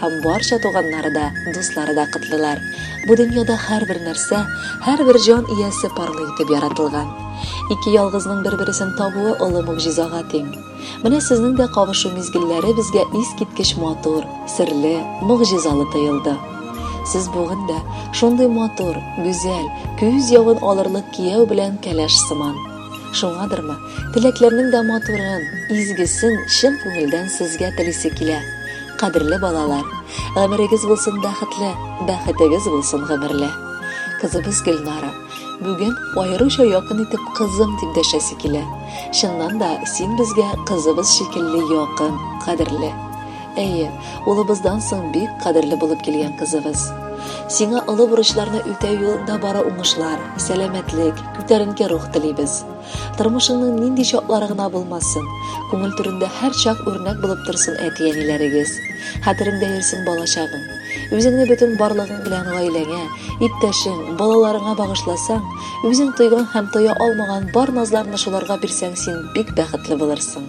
Һәм барча туганнары да, дуслары да котлыйлар. Бу дөньяда һәрбер нәрсә, һәрбер җан иясе парлы итеп яратылган. Ике ялгызның бер-бересен табуы олы могҗизага тиң. Менә сезнең дә кавышу мизгелләре безгә искиткеч матур, серле, могҗизалы тоелды. Сез бүген дә шундый матур, гүзәл, күз явын алырлык кияү белән кәләш сыман. Шуңадырмы, Теләкләрнең дә матурын, изгесен чын күңелдән сезгә телисе килә. Кадерле балалар, гомерегез булсын бәхетле, бәхетегез булсын гомерле. Кызыбыз Гөлнара бүген аеруча якын итеп кызым дип дәшәсе килә. Чыннан да, син безгә кызыбыз шикелле якын, кадерле. Әйе, улыбыздан соң бик кадерле булып килгән кызыбыз. Сиңа олы бурычларны үтәү юлында бары уңышлар, сәламәтлек, күтәренке рух телибез. Тормышыңның нинди чаклары гына булмасын, күңел түрендә һәрчак үрнәк булып торсын әти-әниләрегез. Хәтереңдә йөрсен балачагың. Үзеңне бөтен барлыгың белән гаиләңә, иптәшең, балаларыңа багышласаң, үзең тойган һәм тоя алмаган бар назларны шуларга бирсәң, син бик бәхетле булырсың.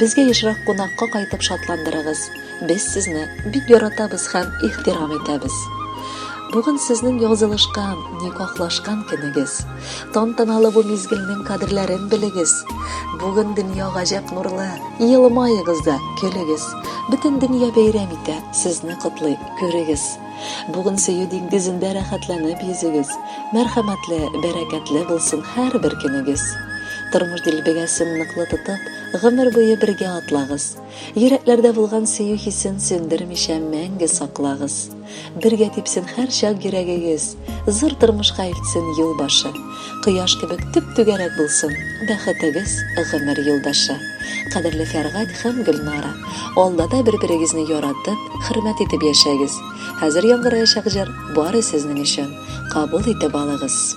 Безгә ешрак кунакка кайтып шатландырыгыз. Без сезне бик яратабыз һәм ихтирам итәбез. Бүген сезнең язылышкан, никахлашкан көнегез. Тантаналы бу мизгелнең кадерләрен белегез. Бүген дөнья гаҗәп нурлы. Елмаегыз да, көлегез. Бөтен дөнья бәйрәм итә, сезне котлый, күрегез. Бүген сөю диңгезендә рәхәтләнеп йөзегез. Мәрхәмәтле, бәрәкәтле булсын һәрбер көнегез. Тормыш дилбегәсен ныклы тотып, гомер буе бергә атлагыз. Йөрәкләрдә булган сөю хисен сүндермичә мәңге саклагыз. Бергә типсен һәрчак йөрәгегез. Зур тормышка илтсен юл башы. Кояш кебек төп-түгәрәк булсын, Бәхетегез гомер юлдашы. Кадерле Фәргать һәм Гөлнара, алда да бер-берегезне яратып, хөрмәт итеп яшәгез. Хәзер яңгыраячак җыр бары сезнең өчен. Кабул итеп алыгыз.